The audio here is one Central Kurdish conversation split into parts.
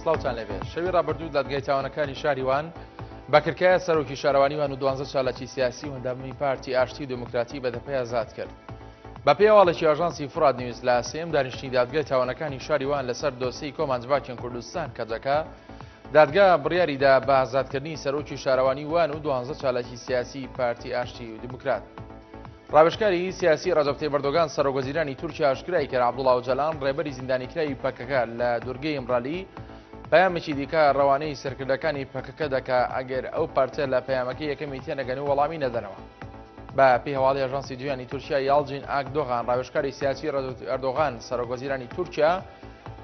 سلااوان لەێ شەوی ڕابردوو دادگای تاوانەکانی شاری وان بەکرکایە سەرۆکی شارەوانی وان و دوانزە چالاکی سیاسی و هەندامی پارتی ئاشتی دموکراتی بەدەپی ئازاد کرد. بە پێواڵێکی ئاژانسی فراد نیوز لە سێم دانیشتنی دادگای تاوانەکانی شاری وان لەسەر دۆسی کۆمانجڤاکیان کوردستان کەجەکە دادگا بڕیاری دا بە ئازادکردنی سەرۆکی شارەوانی وان و دوانزە چالاکی سیاسی پارتی ئاشتی و دیموکرات. ڕاوێژکاری سیاسی ڕەجەب تەیب ئەردۆگان سەرۆک وەزیرانی تورکیا ئاشکرای کرد عەبدوڵا ئۆجالان ڕێبەری زیندانیکراوی پەکەکە لە دوورگەی ئیمرالی پەیامێکی دیکە ڕەوانەی سەرکردەکانی پەکەکە دەکا ئەگەر ئەو پارتە لە پەیامەکەی یەکەمی تێنەگەن و وەڵامی نەدەنەوە. بە پێی هەواڵی ئاژانسی دویانی تورکیا یاڵجین ئاکدۆغان ڕاوێژکاری سیاسی ئەردۆغان سەرۆک وەزیرانی تورکیا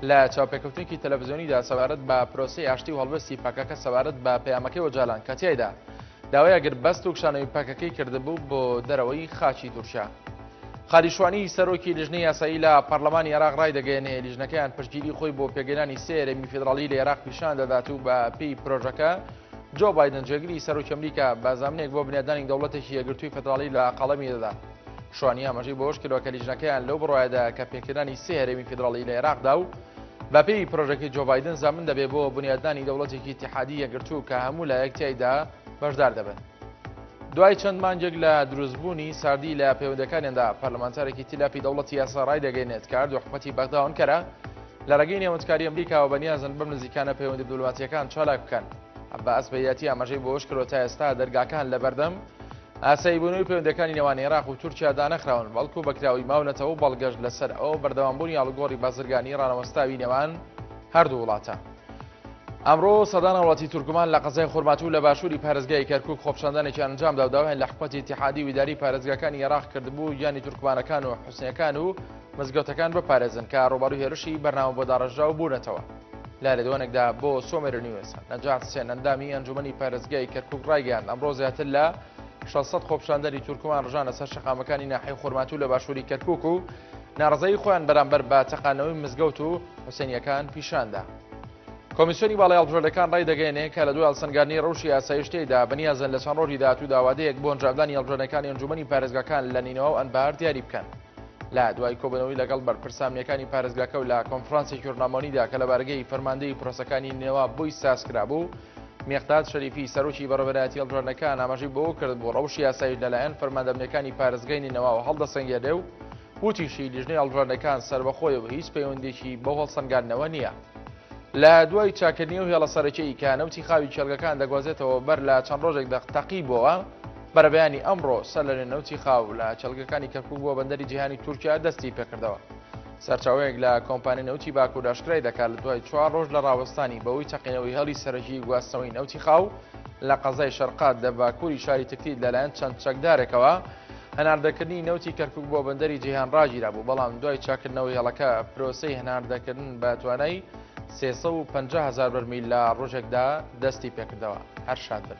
لە چاوپێکەوتنێکی تەلەڤزیۆنیدا سەبارەت بە پرۆسی ئاشتی و هەڵبستی پەکەکە سەبارەت بە پەیامەکەی وەجالان کە تیایدا داوای ئەگربەست و کشانەوەی پەکەکەی کردبوو بۆ دەرەوەی خاچی تورکیا. خالیشوانی سەرۆکی لیژنە یاسایی لە پەرلەمانی عێراق ڕای دەگەێنێ لیژنەکەیان پشتگیری خۆی بۆ پێگەیرانی سێرەمی فیدراڵی لە عێراق پیشان دەدات و بە پێی پرۆژەکە جۆ بادن جێگری سەرۆکی ئەمریکا بازامنێک بۆ بنیادانی دەوڵەتێکی یەگرتووی فدراڵی لە قەڵەمی دەدات. شوانی ئاماژەی بەوەشکردوە کە لیژنەکەیان لەو بڕایەدا کە پێکهێنانی سێ هەرێمی فیدراڵی لە عێراقدا و بەپێی پرۆژەکەی جۆبایدن زامن دەبێ بۆ بنیادنانی دەوڵەتێکی تحادی یەگرتوو کە هەموو لایەک تایدا بەشدار دەبن. دوای چەند مانجێک لە دروستبوونی ساردی لە پەیوەندەکانیاندا پەرلەمانتارێکی تیلاپی دەوڵەتی یاسا ڕای دەگەینێت کار دوحکومەتی بەغداون کەرە لە ڕێگەی نێوەندکاری ئەمریکاوە بەنیازن بەم نزیکانە پەیوەندی دبلوماتیەکان چالاک بکەن. عباس بەیاتی ئاماژەی بۆش کرۆ تا ئێستا دەرگاکان لە بەردەم ئاساییبوونەوەی پەیوەندیەکانی نێوان عێراق و تورکیا دانەخراون، بەڵکو بەکراوەی ماونەتەوە و بەڵگەش لەسەر ئەوە بەردەوامبوونی ئاڵوگۆڕی بازرگانی ڕانەوەستاوی نێوان هەردوو وڵاتە. ئەمڕۆ سەدان هاوڵاتی تورکمان لە قەزای خورماتوو لە باشووری پارێزگای کەرکووک خۆپیشاندانێکیان ئەنجامدا و داوایان لە حکومەتی ئیتیحادی و ئیدارەی پارێزگاکانی ئێراق کردبوو گیانی تورکمانەکان و حوسنییەکان و مزگەوتەکان بپارێزن کە ڕووبەڕووی هێرشی بەرنامە بۆ داڕێژراو بوونەتەوە. لە لێدوانێکدا بۆ سۆمێر نیوز نەجات سێن ئەندامی ئەنجومەنی پارێزگای کەرکک ڕایگەیان ئەمڕۆ زیاتر لە 600 خۆپشاندەری تورکمان ڕژانە سەر شەقامەکانی ناحی خورماتوو لە باشووری کەرکک و ناڕزایی خۆیان بەرامبەر بە تەقانەوەی مزگەوت و حوسێنیەکان پیشاندا. کۆمیسیۆنی باڵی هەڵبژێردەکان ڕای دەگەێنێ کە لە دوای هەڵسەنگارنی ڕەوشی ئاسایشتەیدا بەنیازن لە چەند ڕۆژی داهاتوو داوادەیەک بۆ ئەنجامدانی هەڵبژێردەکانی ئەنجومەنی پارێزگاکان لە نینەوە و ئەنبار دیاری بکەن. لە دوای کۆبنەوەی لەگەڵ بەرپرسامنیەکانی پارێزگاکە و لە کۆنفرانسی ژورنامۆنیدا کە لە بارگەی فەرماندەی پرۆسەکانی نێوا بۆی ساز کرابوو، مێقداد شەریفی سەرۆکی بەڕێوەبەرایەتی هەڵبژاردنەکان ئاماژەی بەوە کرد بۆ ڕەوشی یاسایش لەلایەن فەرماندەمنیەکانی پارێزگای نینەواوە هەڵدەسەنگێنێ و وتیشی لیژنەی هەڵبژاردنەکان سەربەخۆیە و هیچ پەیوەندێکی بەو هەڵسەنگاندنەوە نییە. لە دوای چاکردنی ئەو هێڵە سەرەکیەی کە نەوتی خاوی کێڵگەکان دەگوازێتەوە بەر لە چەند ڕۆژێک تەقی بۆوە، بەرەبەیانی ئەمڕۆ سەرلەنوێ نەوتی خاو لە کێڵگەکانی کەرکوک بۆ بەندەری جیهانی تورکیا دەستی پێکردەوە. سەرچاوەیەک لە کۆمپانیای نەوتی باکور ئاشکرای دەکات لە دوای چوار رۆژ لە راوەستانی بەهۆی تەقینەوەی هێڵی سەرەکیی گواستنەوەی نەوتی خاو لە قەزای شەرقاد لە باکوری شاری تکریت لەلایەن چەند چەکدارێکەوە هەناردەکردنی نەوتی کەرکوک بۆ بەندەری جیهان راگیرابوو، بەڵام دوای چاککردنەوەی هێڵەکە پرۆسەی هەناردەکردن بە توانای سێ سەد و پەنجا هەزار بەرمیل لە رۆژێکدا دەستی پێکردەوە. هەر شاد بن.